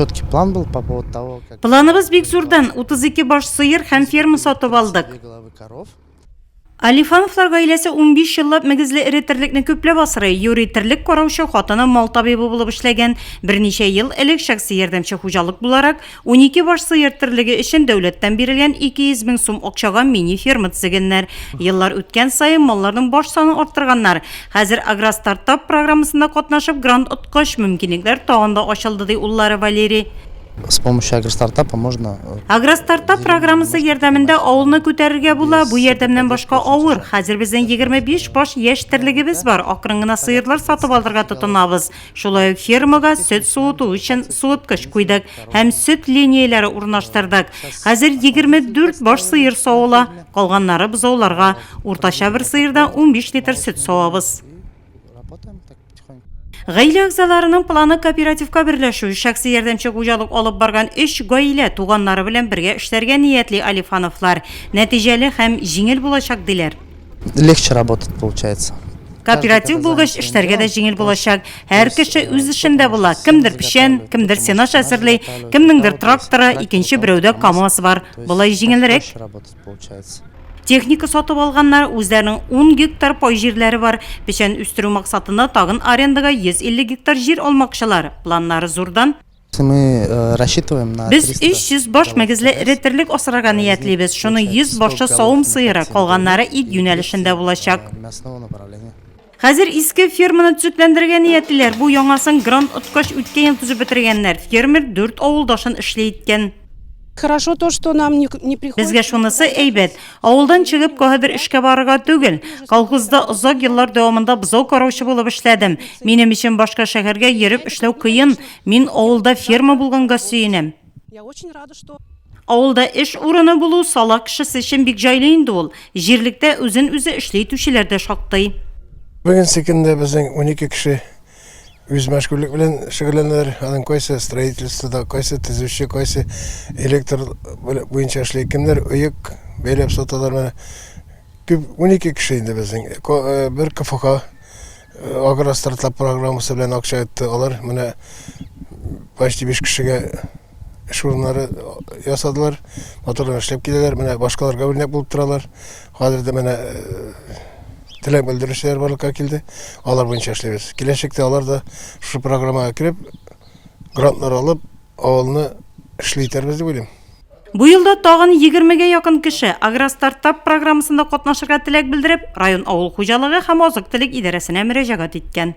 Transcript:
Четкий план был по поводу того, как... Планыбыз бик зурдан, 32 баш сыер һәм ферма сатып алдык. Алифановлар гаиләсе 15 еллап мөгезле эре терлекне күпләп асрый. Юрий терлек караучы, хатыны мал табибы булып эшләгән. Берничә ел элек шәхси ярдәмче хуҗалык буларак 12 баш сыер терлеге өчен дәүләттән бирелгән 200 мең сум акчага мини ферма төзегәннәр. Еллар үткән саен малларның баш санын арттырганнар. Хәзер Агростартап программасында катнашып грант Кош, мөмкинлекләр тагын да ачылды, ди уллары Валерий. С помощью агростартапа можно... Э, Агростартап программасы ярдәмендә авылны күтәрергә була. Бу ярдәмнән башка авыр. Хәзер безнең 25 баш яшь терлегебез бар. Акрын гына сыерлар сатып алырга тотынабыз. Шулай ук фермага сөт суыту өчен суыткыч куйдык һәм сөт линияләре урнаштырдык. Хәзер 24 баш сыер савыла, калганнары бозауларга. Уртача бер сыердан 15 литр сөт савабыз. Работаем так. Гаилә әгъзаларының планы кооперативка берләшү, шәхси ярдәмче хуҗалык алып барган өч гаилә туганнары белән бергә эшләргә ниятли Алифановлар. Нәтиҗәле һәм җиңел булачак, диләр. Легче работать получается. Кооператив булгач, эшләргә дә җиңел булачак. Һәр кеше үз эшендә була. Кемдер печән, кемдер сенач әзерли, кемнеңдер тракторы, икенче берәүдә КАМАЗ бар. Болай җиңелрәк. получается. Техника сатып алганнар, үзләренең ун гектар пай җирләре бар. Печән үстерү максатында тагын арендага 150 гектар җир алмакчылар. Планнары зурдан. Мы рассчитываем на. Без 300 баш мөгезле эре терлек асрарга ниятлибез. Шуның 100 башы савым сыеры, калганнары ит юнәлешендә булачак. Хәзер иске ферманы төзекләндерергә ниятлиләр. Бу яңасын грант откач үткән ел төзеп бетергәннәр. Фермер дүрт авылдашын эшле иткән. Хорошо то, что нам не приходится. Безгә шунысы әйбәт. Авылдан чыгып, каһәбер эшкә барырга түгел. Колхозда озак еллар дәвамында бозау караучы булып эшләдем. Минем өчен башка шәһәргә йөреп эшләү кыен. Мин авылда ферма булганга сөенәм. Я очень рада, что Авылда эш урыны булу сала кешесе өчен бик җайлы инде ул. Җирлектә үзен үзе эшли итүчеләр дә шактый. Бүгенге көндә безнең 12 кеше үз мәшгульлек белән шөгыльләнәләр. Аның кайсы строительствода, кайсы төзүче, кайсы электр буенча эшли, кемнәр оек бәйләп саталар. Менә күп 12 кеше инде безнең. Ко- э, Бер КФХ Агростартлап программасы белән акча итте алар. Менә почти 5 кешегә эш урыннары ясадылар. Матурлар эшләп киләләр. Менә башкаларга үрнәк булып торалар. Хәзер дә менә теләк белдерүчеләр барлыкка килде. Алар буенча эшләбез. Киләчәктә алар да шушы программага кереп, грантлар алып, авылны эшли итәрбез дип уйлыйм. Бу елда тагын егермегә якын кеше Агростартап программасында катнашырга теләк белдереп, район авыл хуҗалыгы һәм азык-төлек идарәсенә мөрәҗәгать иткән.